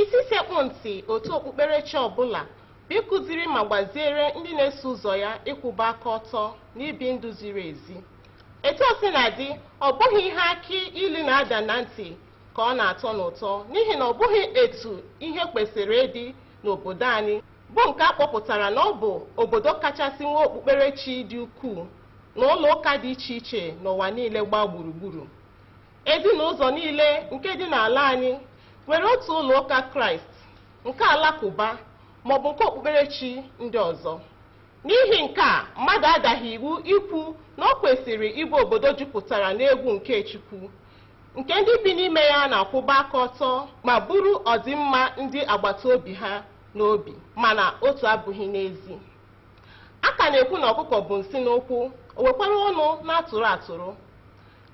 Isi sekpụ ntị otu okpukperechi ọ bụla bụ ịkụziri ma gbaziere ndị na-eso ụzọ ya ịkwụba aka ọtọ na ibi ndụ ziri ezi. Etu o sina dị, ọ bụghị ihe akị ilu na-ada na ntị ka ọ na-atọ n'ụtọ n'ihi na ọ bụghị etu ihe kwesịrị ịdị n'obodo anyị bụ nke a kpọpụtara na ọ bụ obodo kachasị nwee okpukperechi dị ukwuu na ụlọ ụka dị iche iche n'ụwa niile gbaa gburugburu. Ezinụzọ niile nke dị n'ala anyị nwere otu ụlọ ụka Kraịst, nke Alakụba maọbụ nke okpukperechi ndị ọzọ. N'ihi nke a, mmadụ adaghị iwu ikwu na o kwesịrị ịbụ obodo jupụtara n'egwu nke Chukwu, nke ndị bi n'ime ya na-akwụba aka ọtọ ma buru ọdịmma ndị agbata obi ha n'obi. Mana otu abụghị n'ezi. A ka na-ekwu na ọkụkọ bu nsị n'ụkwụ, o wekwara ọnụ na-atụrụ atụrụ.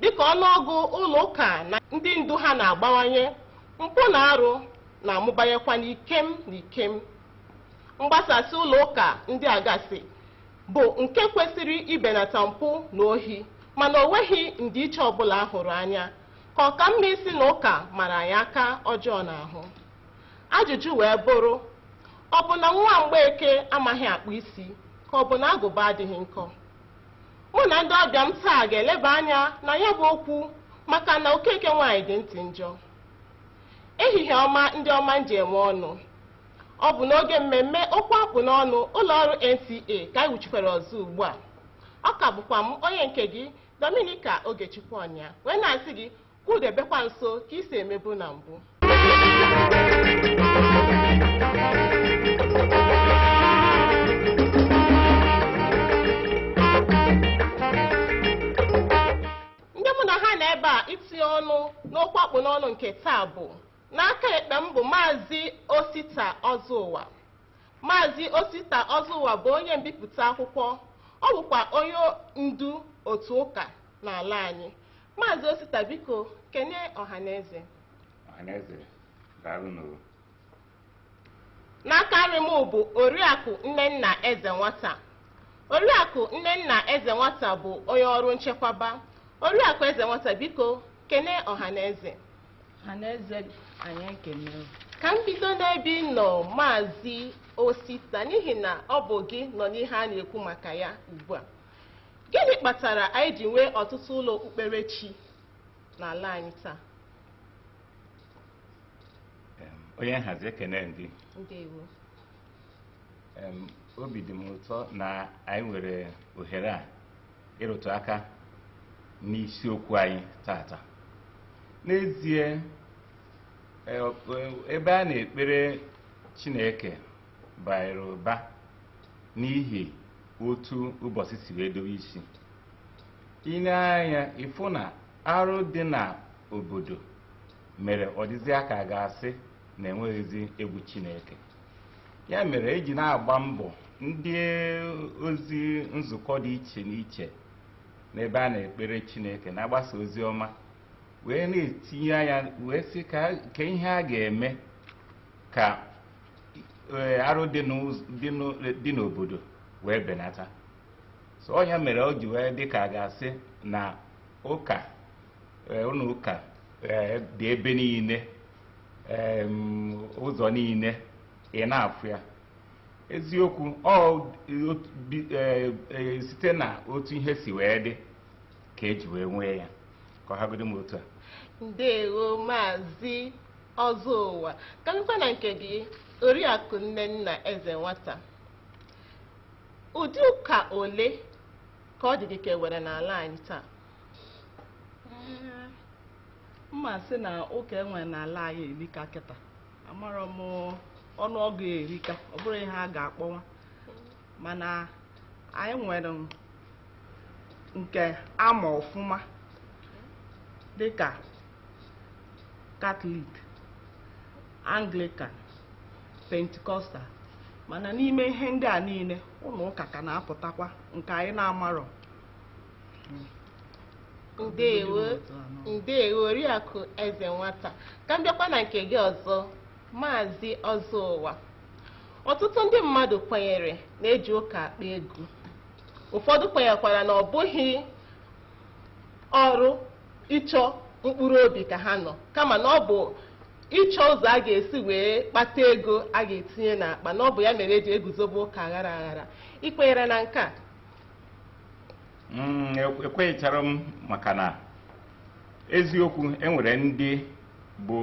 Dịka ọnụọgụ ụlọụka na ndị ndu ha na-agbawanye, mpụ na arụ na-amụbanyekwa n'ikem n'ikem. Mgbasasị ụlọụka ndị a gasị bụ nke kwesịrị ibenata mpụ na ohi mana o nweghị ndịiche ọbụla a hụrụ anya, ka ọ ka mma ịsị na ụka mara anyị aka ọjọọ n'ahụ. Ajụjụ wee bụrụ, ọ bụ na nwa Mgbeke amaghị akpụ isi ka ọ bụ na agụba adịghị nkọ? Mụ na ndị ọbịa m taa ga-eleba anya na ya bụ okwu maka na Okeke nwaanyị dị ntị njọ. Ehihie ọma ndị ọma m ji enwe ọnụ. Ọ bụ n'oge mmemme okwu akpụ n'ọnụ ụlọ ọrụ NTA ka anyị wuchikwara ọzọ ugbu a. Ọ ka bụkwa m onye nke gị Dominica Ogechukwu Ọnya wee na-asị gị Kwụdebekwa nso ka i si emebu na mbụ. Ndị mụ na ha nọ ebe a itinye ọnụ n'okwu akpụ n'ọnụ nke taa bụ n'aka ekpe m bụ Maazị Osita Ọzụụwa. Maazị Osita Ọzụụwa bụ onye mbipụta akwụkwọ, ọ bụkwa onye ndu otu ụka n'ala anyị. Maazị Osita biko kene ọhaneze. Ọhaneze daalụ nụ o. N'aka nri m bụ Oriakụ Nnenna Eze Nwata. Oriakụ Nnenna Eze Nwata bụ onye ọrụ nchekwaba. Oriakụ Eze Nwata biko kene ọhaneze. Ọhaneze anyị ekene. Ka m bido n'ebe ị nọ Maazị Osita n'ihi na ọ bụ gị nọ n'ihe a na-ekwu maka ya ugbu a. Gịnị kpatara anyị ji nwee ọtụtụ ụlọ okpukperechi n'ala anyị taa? Onye nhazi ekene m gị. Ndewo. Obi dị m ụtọ na anyị nwere ohere a ịrụtụ aka n'isiokwu anyị tata. N'ezie, e, e, ebe a na-ekpere Chineke baara ụba n'ihi otu ụbọchị si wee dowe isi i nee anya ị fụ na arụ dị na obodo mere ọ dịzia ka a ga-asị na e nweghịzi egwu chineke ya mere e ji na-agba mbọ ndị ozi nzukọ dị iche n'iche n'ebe a na-ekpere chineke na-agbasa ozi ọma wee na-etinye anya wee sị kee ihe a ga-eme ka arụ dị n'obodo wee benata so ọ nya mere o ji wee dị ka a ga-asị na ụka ụlọ ụka dị ebe niile ụzọ niile ị na-afụ ya eziokwu ọ site na otu ihe si wee dị ka e ji wee nwee ya ka ọ hagodu m otu a ndewo maazị ọzọụwa ka a nụkwa na nke gị oriakụ nnenna ezenwata ụdị ụka ole ka ọ dị gị ka e nwere n'ala anyị taa m ma-asị na ụka e nwere n'ala anyị erika kịta amarọ m ọnụọgụ erika ọ bụrụ ihe a ga-akpọwa mana anyị nwere nke a ma ọfụma dịka katọlik anglikan pentikọstal mana n'ime ihe ndị a niile ụlọ ụka ka na-apụtakwa nke anyị na-amarọ ndewo ndewo oriakụ ezenwata ka m bịakwa na nke gị ọzọ maazị ọzọụwa Ọtụtụ ndị mmadụ kwenyere na e ji ụka akpa ego. Ụfọdụ kwenyekwara na ọ bụghị ọrụ ịchọ mkpụrụ obi ka ha nọ kama na ọ bụ ịchọ ụzọ a ga-esi wee kpata ego a ga-etinye n'akpa na ọ bụ ya mere e ji eguzobe ụka aghara aghara ị kwenyere na nke a Mm, ekwe- ekwecharọ m maka na eziokwu e nwere ndị bụ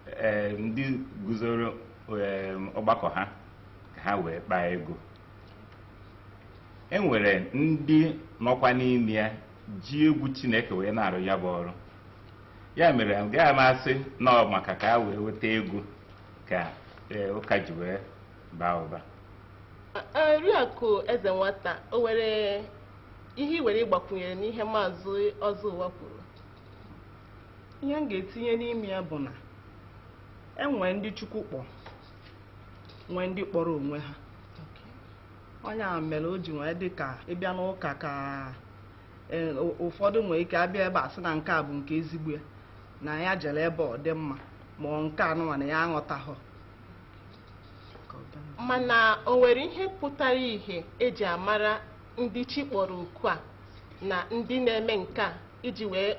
ee, ndị guzoro ee, ọgbakọ ha ka ha wee kpaa ego e nwere ndị nọkwa n'ime ya ji egwu chineke wee na-arụ ya bụ ọrụ ya mere agaghị m asị na ọ maka ka ha wee weta ego ka ee, ụka ji wee baa ụba oriakụ eze nwata o nwere ihe i nwere ịgbakwunyere n'ihe maazị ọzọ ụwa kwuru ihe m ga-etinye n'ime ya bụ na enwee ndị chukwu kpọ nwee ndị kpọrọ onwe ha ọ ya mere o ji wee dị ka ịbịa n'ụka ka e, ụ- ụfọdụ nwee ike abịa ebe a sị na nke a bụ nke ezigbo ya na ya jere ebe ọ dị mma ma ọ nke anụnwa na ya aghọtaghọ mana o nwere ihe pụtara ihe eji amara ndị chi kpọrọ oku a na ndị na-eme nke a iji wee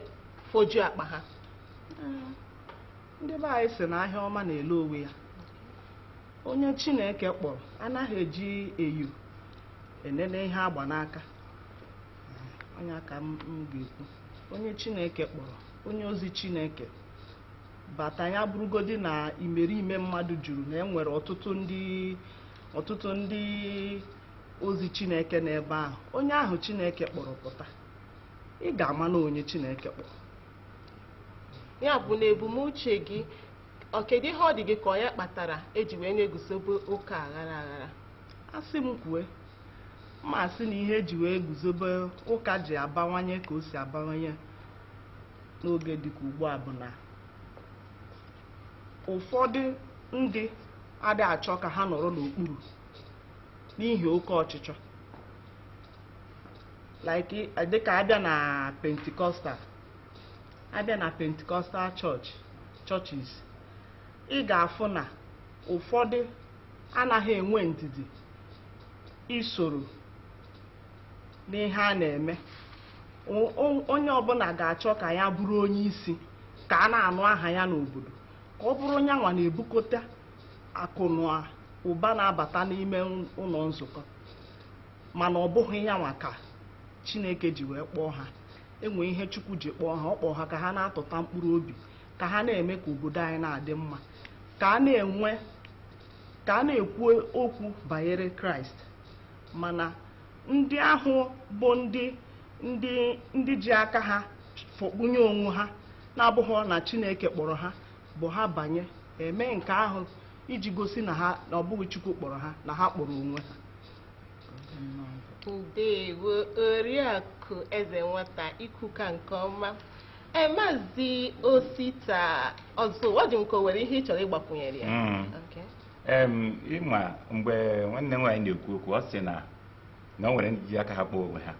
fojuo akpa ha ndị be anyị sị na ahịa ọma na-ele onwe ya onye chineke kpọrọ anaghị eji enyo enene ihe agba n'aka ọ ya ka m ga-ekwu onye chineke kpọrọ onye ozi chineke bata ya bụrụgodi na imerime mmadụ juru na enwere ọtụtụ ndị ọtụtụ ndị ozi chineke n'ebe ahụ onye ahụ chineke kpọrọ pụta ị ga-ama na onye Chineke kpọ ya bụ n'ebumnuche gị ọ kedu ihe ọ dị gị ka ọ ya kpatara eji wee na-eguzobe ụka aghara aghara asị m kwue m asị na ihe eji wee guzobe ụka ji abawanye ka o si abawanye n'oge dịka ugbu a bụ na ụfọdụ ndị adị achọ ka ha nọrọ n'okpuru n'ihi oke ọchịchọ like eh, dịka abịa na Pentecostal abịa na Pentecostal churches ị ga-afụ na ụfọdụ anaghị enwe ndidi isoro n'ihe a na-eme O- o- onye ọbụla ga-achọ ka ya bụrụ onye isi ka a na-anụ aha ya n'obodo ka ọ bụrụ yanwa na-ebukọta akụ na ụba na-abata n'ime ụlọ nzukọ mana ọ bụghị yanwa ka chineke ji wee kpọọ ha enwe ihe chukwu ji kpọọ ha ọ kpọọ ha ka ha na-atụta mkpụrụ obi ka ha na-eme ka obodo anyị na-adị mma ka a na-enwe ka a na-ekwu okwu banyere kraịst mana ndị ahụ bụ ndị ndị ndị ji aka ha fọkpunye onwe ha na-abụghị na chineke kpọrọ ha bụ ha banye eme nke ahụ iji gosi na ha na ọ bụghị chukwu kpọrọ ha na ha kpọrọ onwe ha ndewo oriakụ ezenwata i kwuka nke ọma ee maazị osita ọzọụwa ọ dị m ka o nwere ihe ị chọrọ ịgbakwunyere ya Mm. Okay. Em, ị ma mgbe nwanne m nwaanyị na-ekwu okwu ọ sị na na o nwere ndị ji aka ha kpọọ onwe ha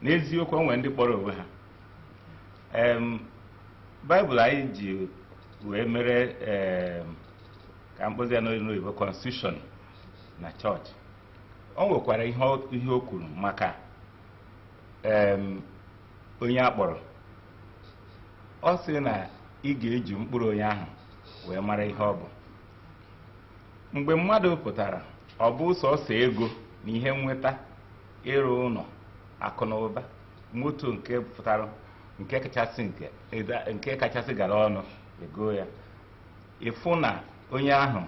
n'eziokwu o nwere ndị kpọrọ onwe ha Em, baịbụl anyị ji wee mere em, ka m kpọzie ya n'oyibo constitution na chọọchị o nwekwara ihe o- ihe o kwuru maka em, onye a kpọrọ ọ sị na ị ga-eji mkpụrụ onye ahụ wee mara ihe ọ bụ mgbe mmadụ pụtara ọ bụ sọsọ ego na ihe nnweta ịrụ ụlọ akụ na ụba moto nke pụtara nke kachasị nke eda- nke kachasị gara ọnụ ego ya ị fụ na onye ahụ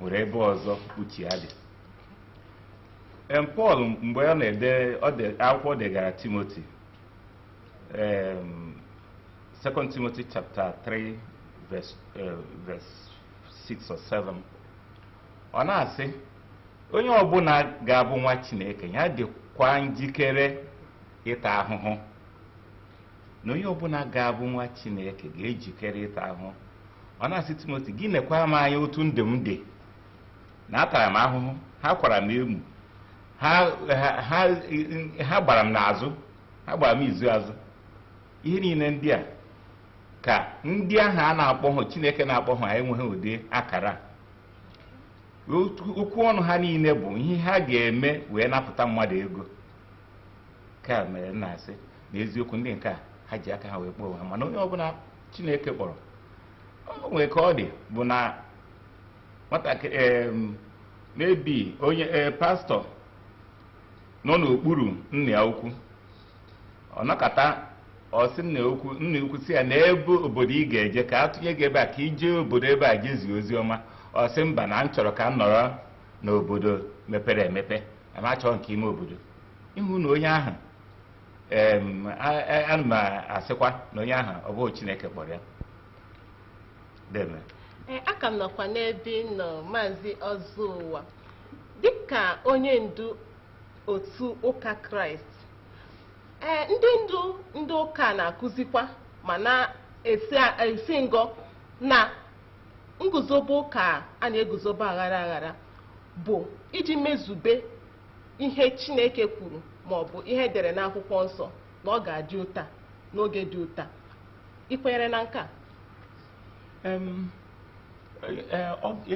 nwere ebe ọzọ uche ya dị Em, Pọl mgbe ọ na-ede ọ de- akwụkwọ ọ degara Timoti em, 2 Timothy chapter 3 verse, eh, verse 6 or 7 ọ na-asị onye ọbụla ga-abụ nwa Chineke ya dịkwa njikere ịta ahụhụ na onye ọbụla ga-abụ nwa Chineke ga-ejikere ịta ahụhụ ọ na-asị Timoti gị nekwa m anya otu ndụ m dị na atara m ahụhụ ha kwara m emu ha gbara m n'azụ ha gbara m izu azụ ihe niile ndị a ka ndị ahụ a na-akpọghị Chineke na-akpọghị enweghị ụdị akara okwu ọnụ ha niile bụ ihe ha ga-eme wee napụta mmadụ ego ka mere m na-asị n'eziokwu ndị nke a ha ji aka ha wee kpọọ onwe ha mana onye ọbụla chineke kpọrọ o nwere ka ọ dị bụ na nwatakịrị em, maybe onye ee, pastọ nọ n'okpuru nna ya ukwu ọ nọkata ọ sị nna ya ukwu nna ya ukwu sị ya na ebe obodo ị ga-eje ka a tụnye gị ebe a ka i jee obodo ebe a jee zie ozi ọma ọ sị mba na m chọrọ ka m nọrọ n'obodo mepere emepe m achọghị nke ime obodo ị hụ na onye ahụ Em, a- a- ana m asịkwa na onye ahụ ọ bụghị chineke kpọrọ ya deeme Ee, aka m nọkwa n'ebe ị nọ maazị ọzọụwa dịka onye ndu otu ụka kraịst ee ndị ndu ndị ụka na-akụzikwa ma na-esi esi ngọ na nguzobe ụka a na-eguzobe aghara aghara bụ iji mezube ihe Chineke kwuru ma ọ bụ ihe e dere n'akwụkwọ nsọ na ọ ga-adị otu a n'oge dị otu a ị kwenyere na nke a e,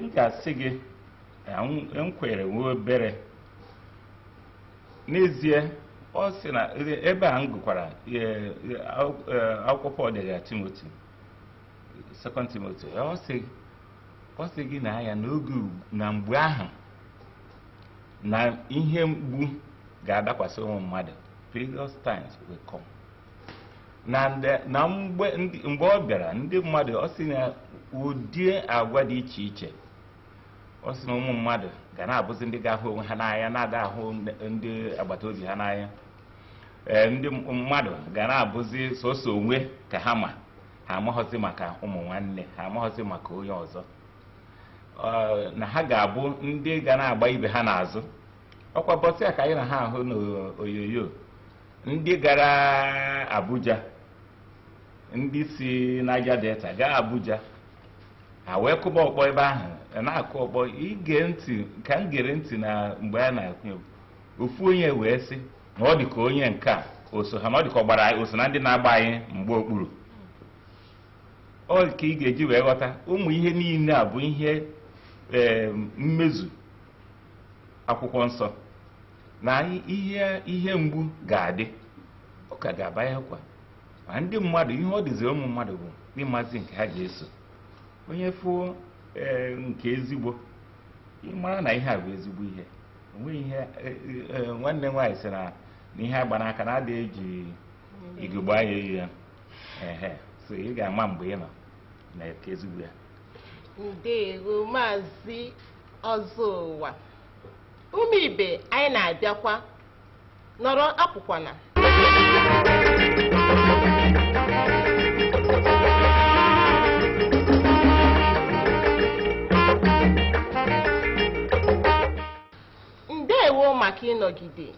m ga-asị gị m kwere nwe obere n'ezie ọ sị na ebe a m gụkwara e, e, akwụkwọ Pọl degara Timoti Second Timothy ọ sị gị na ya n'oge na mgbe ahụ na ihe mgbu ga-adakwasị ụmụ mmadụ perilous times will come na nde- na mgbe ndị- mgbe ọ bịara ndị mmadụ ọ sị na ụdị agwa dị iche iche ọ sị na ụmụ mmadụ ga na-abụzi ndị ga-ahụ onwe ha n'anya na-ada ahụ ndị- ndị agbata obi ha n'anya ee ndị m- mmadụ ga na-abụzi sọsọ onwe ka ha ma ha amaghọzi maka ụmụ nwanne ha amaghọzi maka onye ọzọ na ha ga-abụ ndị ga na-agba ibe ha n'azụ ọkwa ụbọsị a ka anyị na-ahụ n'onyonyo ndị gara Abuja ndị si Niger Delta gaa Abuja ha wee kụba ọkpọ ebe ahụ na-akụ ọkpọ ị gee ntị ka m gere ntị na mgbe a na-akụ ofu onye wee sị na ọ dị ka onye nke a o so ha na ọ dị ka ọ gbara o so na ndị na-agba anyị mgba okpuru ọ ka ị ga-eji wee ghọta ụmụ ihe niile a bụ ihe ee mmezu akwụkwọ nsọ na ihe ihe mgbu ga-adị ụka ga-abanyekwa ma ndị mmadụ ihe ọ dịziri ụmụ mmadụ bụ ịmazi nke ha ga-eso onye fụo ee nke ezigbo ị mara na ihe a bụ ezigbo ihe o nwere ihe nwanne nwaanyị sị na ihe a gba n'aka na ada eji ugegbe anya ene ya so ị ga-ama mgbe ị nọ na nke ezigbo ya ndewo Maazị Ọzọụwa ụmụ ibe anyị na-abịakwa nọrọ apụkwana ndewo maka ịnọgide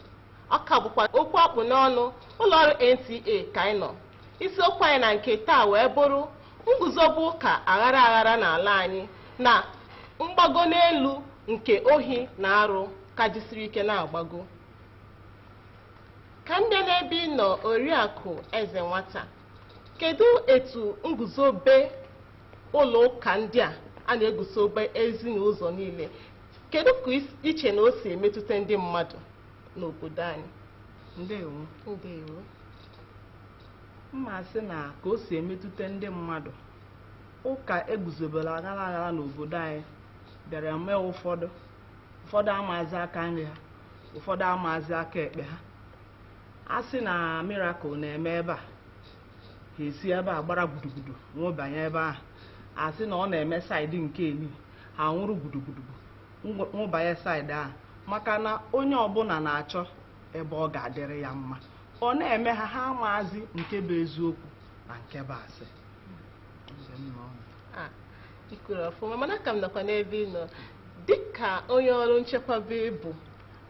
Ọ ka bụkwa okwu a kpụ n'ọnụ ụlọọrụ NTA ka anyị nọ. Isiokwu anyị na nke taa wee bụrụ nguzobe ụka aghara aghara n'ala anyị na mgbago n'elu nke ohi na arụ ka jisiri ike na-agbago. Ka m bịa n'ebe ị nọ Oriakụ Ezenwata, kedu etu nguzobe ụlọ ụka ndị a a na-eguzobe ezi na ụzọ niile Kedu ka i che na o si emetụta ndị mmadụ n'obodo anyị? Ndewo. Ndewo. M ma-asị na ka o si emetụta ndị mmadụ, ụka eguzobere aghara aghara n'obodo anyị bịara mee ụfọdụ ụfọdụ amaazị aka nri ha ụfọdụ amaazị aka ekpe ha a sị na miracle na-eme ebe a ha esi ebe a gbara gudugudu nwụbanye ebe ahụ a sị na ọ na-eme saịdị nke elu ha nwụrụ gudugudu nwụbanye saịdị ahụ maka na onye ọbụla na-achọ ebe ọ ga-adịrị ya mma ọ na-eme ha ha amaazị nke bụ eziokwu na nke bụ asị ah, i kwuru ọfụma mana ka m nọkwa n'ebe ị nọ dịka onye ọrụ nchekwaba ị bụ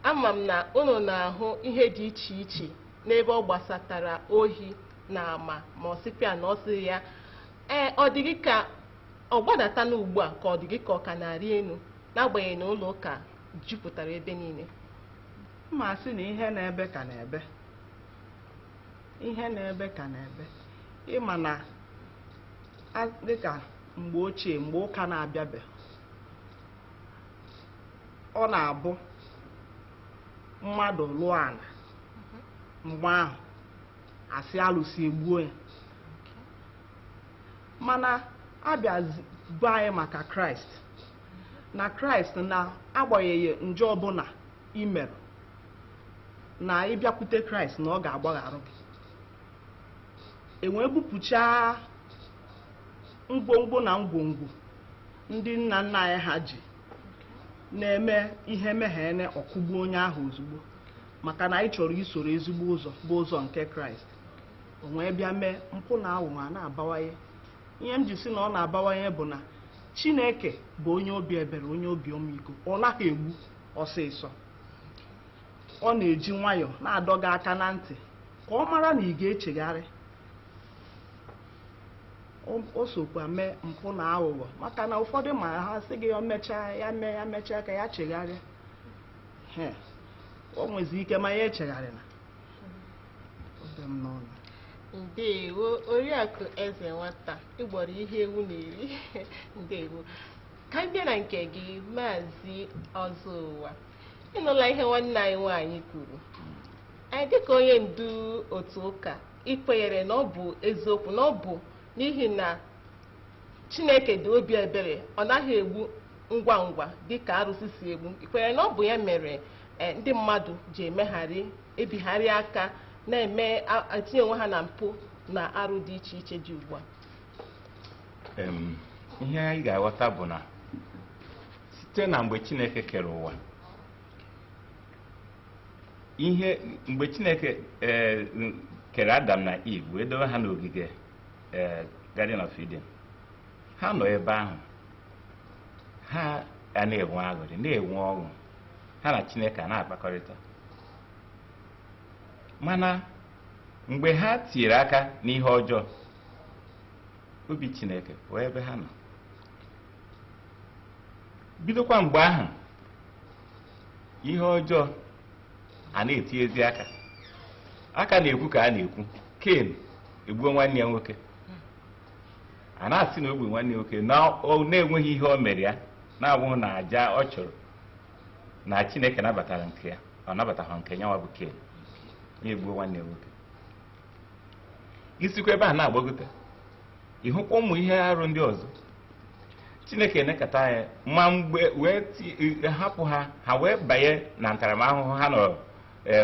ama m na unu na-ahụ ihe dị iche iche n'ebe ọ gbasatara ohi na ama ma ọ sịpịa na ọ sị ya ee ọ dị gị ka ọ gbadata n'ugbu a ka ọ dị gị ka ọ ka na-arị elu n'agbanyeghị na ụlọ ụka jupụtara ebe niile m ma-asị na ihe na-ebe ka na-ebe ihe na-ebe ka na-ebe ị ma na a- dịka mgbe ochie mgbe ụka na-abịabe ọ na-abụ mmadụ lụọ ala mgbe ahụ asị alụsị egbuo ya mana a bịa gwa anyị maka kraịst na kraịst na agbanyeghị njọ ọbụla i mere na ị bịakwute kraịst na ọ ga-agbagharụ gị e wee bupụchaa ngwongwo na ngwongwo ndị nna nna anyị ha ji na-eme ihe meghene ọ kụgbuo onye ahụ ozugbo maka na anyị chọrọ isoro ezigbo ụzọ bụ ụzọ nke kraịst o wee bịa mee mpụ na aghụghọ a na-abawanye ihe m ji sị na ọ na-abawanye bụ na chineke bụ onye obi ebere onye obi ọmịiko ọ naghị egbu ọsịsọ ọ na-eji nwayọọ na-adọ gị aka na ntị ka ọ mara na ị ga-echegharị O- o sokwa mee mpụ na aghụghọ maka na ụfọdụ ma ha sị gị ya mechaa ya mee ya mechaa ka ya chegharịa o nwezi ike ma ya echegharịna ndewo oriakụ Ezenwata ị gbọrọ ihe ewu na-eri ndewo ka m bịa na nke gị maazị Ọzọụwa ị nụla ihe nwanne anyị nwaanyị kwuru anyị dịka onye ndu otu ụka i kwenyere na ọ bụ eziokwu na ọ bụ n'ihi na Chineke dị obi ebere, ọ naghị egbu ngwa ngwa dị ka arụsị si egbu. I kwenyere na ọ bụ ya mere eh, ndị mmadụ ji emegharị, ebigharị aka, na-eme a- etinye onwe ha na mpụ na arụ dị iche iche dị ugbu a? Em, ihe anyị ga-aghọta bụ na site na mgbe chineke kere ụwa ihe mgbe chineke eh, kere Adam na Eve wee dowe ha n'ogige ee Garden of Eden ha nọ ebe ahụ ha a na-enwe aṅụrị na-enwe ọṅụ ha na Chineke a na-akpakọrịta mana mgbe ha tinyere aka n'ihe ọjọọ obi Chineke pụọ ebe ha nọ bidokwa mgbe ahụ ihe ọjọọ a na-etinyezi aka a ka na-ekwu ka a na-ekwu ken egbuo nwanne ya nwoke a na-asị na o gbu nwanne ya nwoke na-enweghị ihe o mere ya na-abụghị na aja ọ chụrụ na chineke nabatara nke ya ọ nabataghị nke nyanwa bụ ken ya egbuo nwanne ya nwoke i sikwa ebe a na-agbagote ị hụkwa ụmụ ihe arụ ndị ọzọ chineke enekata ya ma mgbe wee ti- e- hapụ ha ha wee banye na ntaramahụhụ ha nọrọ e,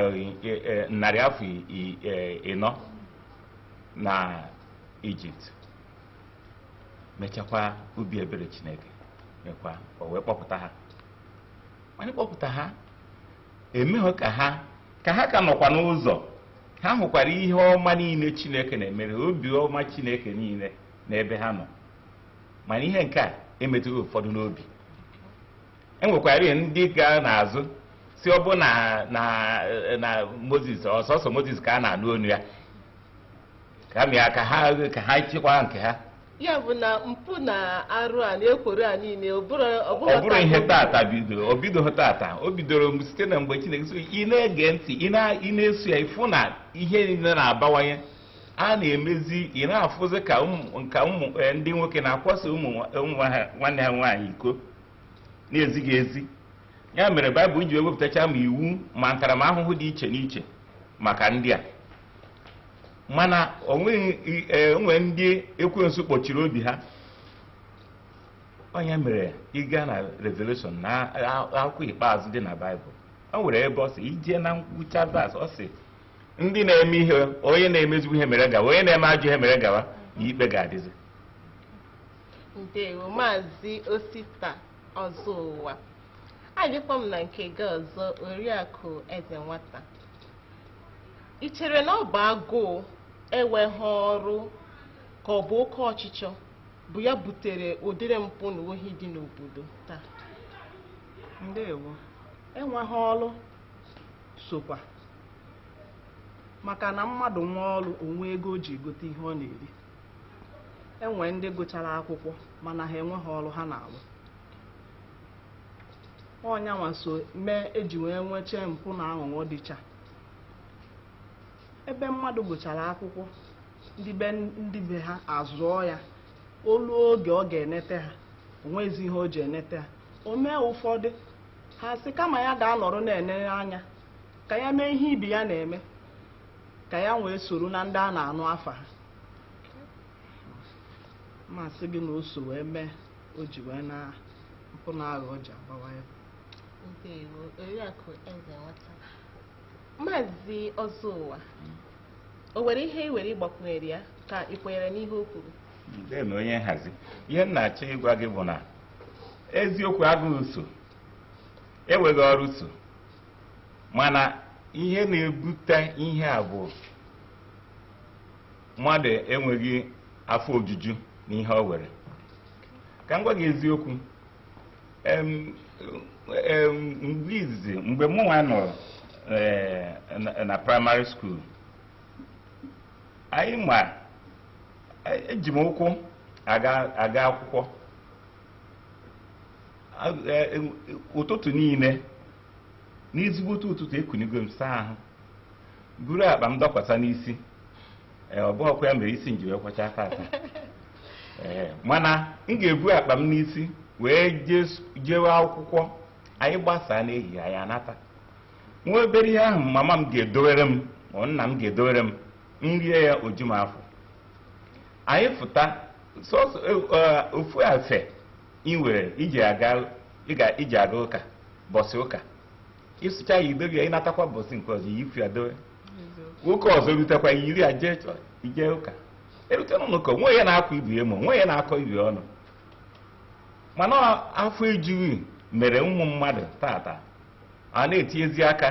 e, e, narị afọ i- i- e, ịnọ na ijipt mechakwa obi ebere chineke mekwa o wee kpọpụta ha mana ịkpọpụta ha emeghị ka ha ka ha ka nọkwa n'ụzọ ha hụkwara ihe ọma niile chineke na-emere obi ọma chineke niile n'ebe ha nọ mana ihe nke a emetụghị ụfọdụ n'obi e nwekwara ndị ga n'azụ sị ọ bụ na na na moses ọ sọsọ moses ka a na-anụ onu ya kama ka ha ka ha chịkwa nke ha ya bụ na mpụ na arụ a na ekworo a niile ọ bụrụ ọ bụghị ọ bụrụ ihe tata bidoro o bidoghị tata o bidoro mgbe- site na mgbe chineke so ị na-ege ntị ị na- ị na-eso ya ị fụ na ihe niile na-abawanye a na-emezi ị na-afụzi ka ụmụ nka ụmụ eh, ndị nwoke na-akwasa ụmụ nwa- ụmụ ha- nwanne ha nwaanyị iko na-ezighị ezi ya mere baịbụl ji ewepụtacha ma iwu ma ntaramahụhụ dị iche n'iche maka ndị a mana o nweghị i- e, o nwere ndị ekwensu kpọchiri obi ha ọ ya mere ị gaa na revelation na a- akwụkwọ ikpeazụ dị na baịbụl o nwere ebe ọ sị i jee na ngwụcha verse ọ sị ndị na-eme ihe onye na-eme ezigbo ihe mere gawa onye na-eme ajọ ihe mere gawa na ikpe ga-adịzi ndewo maazị osita ọzọ ụwa adịkwa m na nke gị ọzọ oriakụ Ezenwata I chere na ọ bụ agụụ enweghị ọrụ ka ọ bụ oke ọchịchọ bụ ya butere ụdịrị mpụ na ohi dị n'obodo taa? Ndewo. Enweghị ọrụ sokwa maka na mmadụ nwee ọrụ o nwee ego o ji egote ihe ọ na-eri e nwe ndị gụchara akwụkwọ mana ha enweghị ọrụ ha na-arụ ọ nya nwa so mee e ji wee nweche mpụ na aghụghọ dịcha ebe mmadụ gụchara akwụkwọ ndị be ndị be ha azụọ ya o luo oge ọ ga-enete ha o nwezi ihe o ji enete ha o mee ụfọdụ ha sị kama ya ga-anọrọ na-enere anya ka ya mee ihe ibe ya na-eme ka ya wee soro na ndị a na-anụ afa ha m asị gị na o so wee mee o ji wee na mpụ na aghụghọ ji abawanye ndewo oriakụ Ezenwata maazị Ọzọụwa o nwere ihe i nwere ịgbakwunyere ya ka i kwenyere n'ihe o kwuru Ndeeme onye nhazi ihe m na-achọ ịgwa gị bụ na eziokwu agụụ so enweghị ọrụ so mana ihe na-ebute ihe a bụ mmadụ enweghị afọ ojuju n'ihe o nwere ka m gwa gị eziokwu mgbe izizi mgbe mụ nwa nọ eh, na primary school anyị ma eji m ụkwụ aga akwụkwọ e, ụtụtụ niile n'ezigbote ụtụtụ ekunigo m saa ahụ buru akpa m dọkwasa n'isi ee ọ bụrọkwa ya mere isi m ji wee kwọchaa aka aka ee mana m ga-ebu akpa m n'isi wee jes- jewe akwụkwọ anyị gbasaa n'ehihie anyị anata nwa obere ihe ahụ mama m ga-edowere m ma nna m ga-edowere m m rie ya o ju m afọ anyị fụta sọsọ eh, ofu afe i nwere iji aga ịga- iji aga ụka bọsị ụka ị sụchaa ya i dobe ya ị natakwa bọsị nke ọzọ yifụ ya dowe oge ọzọ rutekwa i yiri ya jee chọọchị jee ụka e rute n'ụlọ ụka o nwe onye na-akwa ibe ya emo o nwe onye na-akọ ibe ya ọnụ mana afọ ejughị mere ụmụ mmadụ tata a na-etinyezi aka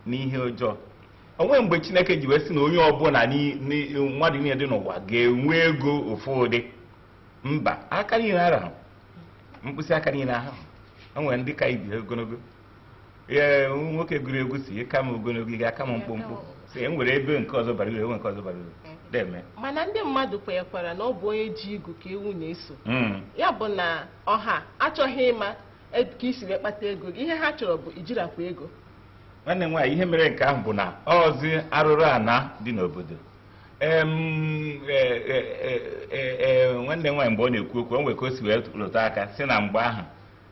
n'ihe ọjọọ o nwe mgbe chineke ji wee sị na onye ọbụla n'i- n'i- mmadụ niile dị n'ụwa ga-enwe ego ofu ụdị mba aka niile arahụ mkpịsị aka niile ahụ o nwere ndị ka ibe ha ogologo ee nwoke gụrụ egwu sị ị ka m ogologo ị ga-aka m mkpụmkpụ sị e nwere ebe nke ọzọ bara uru enwe nke ọzọ bara uru na-eme mana ndị mmadụ kwenyekwara na ọ bụ onye ji igu ka ewu na-eso hmm. ya bụ na ọha achọghị ịma e, ka i si wee kpata ego gị ihe ha chọrọ bụ ijirakwa ego nwanne m nwaanyị ihe mere nke ahụ bụ na ọzi arụrụ ana dị n'obodo E, e, e, nwanne m nwaanyị mgbe ọ na-ekwu okwu o nwere ka o si wee lụtụ aka sị na mgbe ahụ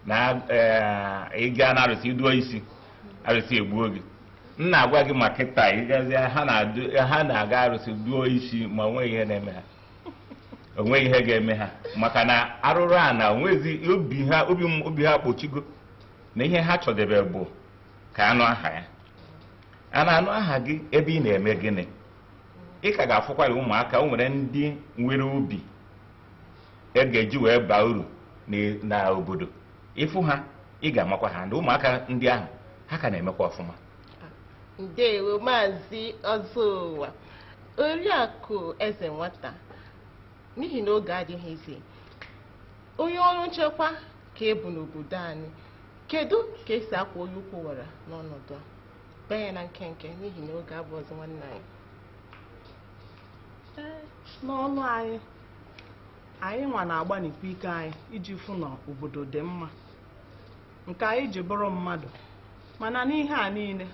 na eh, ị gaa na arụsị ị dụọ isi arụsị egbuo gị m na-agwa gị ma kịta ị gazi ha na-adụ- ha na-aga arụsị dụọ isi ma o nweghị ihe na-eme ha o nweghị ihe ga-eme ha maka na arụrụ ana o nwezi obi ha obi m- obi ha kpochigo na ihe ha chọdebe bụ ka a nụ aha ya a na-anụ aha gị ebe ị na-eme gịnị ị ka ga-afụkwara ụmụaka o nwere ndị nwere obi e ga-eji wee baa uru na- na obodo ị fụ ha ị ga-amakwa ha ndị ụmụaka ndị ahụ ha ka na-emekwa ọfụma ndewo maazị ọzọụwa oriakụ eze nwata n'ihi na oge adịghịzi onye ọrụ nchekwa ka ị bụ n'obodo anyị kedu ka e si akwọ onye ukwu wara n'ọnọdụ a bee ya na nkenke n'ihi na oge abụọzi nwanne anyị n'ọlụ anyị anyị nwa na-agbanikwa ike anyị iji fụ na obodo dị mma nke anyị ji bụrụ mmadụ mana n'ihe a niile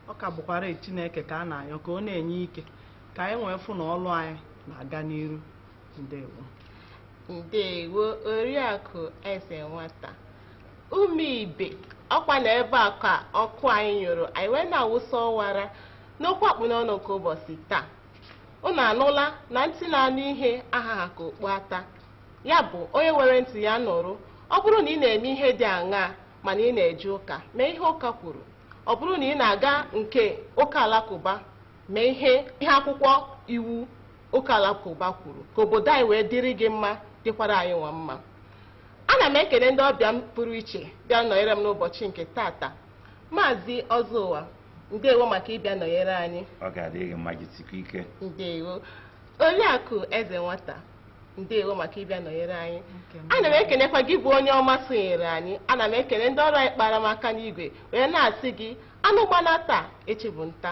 ọ ka bụkwara Chineke ka a na-ayọ ka ọ na-enye ike ka anyị wee fụ na ọlụ anyị na-aga n'iru ndewo ndewo oriakụ eze nwata ụmụ ibe ọ kwa na ebe a ka ọkụ anyị nyụrụ anyị wee na-awụsa ọwara n'okwu a kpụ n'ọnụ nke ụbọchị taa unu anụla na ntị na-anụ ihe ahaha ka okpu ata ya bụ onye nwere ntị ya nụrụ ọ bụrụ na ị na-eme ihe dị aṅaa mana ị na-eje ụka mee ihe ụka kwuru ọ bụrụ na ị na-aga nke ụka alakụba mee ihe ihe akwụkwọ iwu ụka alakụba kwuru ka obodo anyị wee dịrị gị mma dịkwara anyị nwa mma ana m ekene ndị ọbịa m pụrụ iche bịa nọnyere m n'ụbọchị nke tata maazị ọzọụwa ndewo maka ịbịa nọnyere anyị ọ ga-adịrị gị mma jisikwa ike ndewo oriakụ eze nwata ndewo maka ịbịa nọnyere anyị ana m ekenekwa gị bụ onye ọma sonyere anyị ana m ekene ndị ọrụ anyị kpara m aka n'igwe wee na-asị gị anụ gbanaa taa echi bụ nta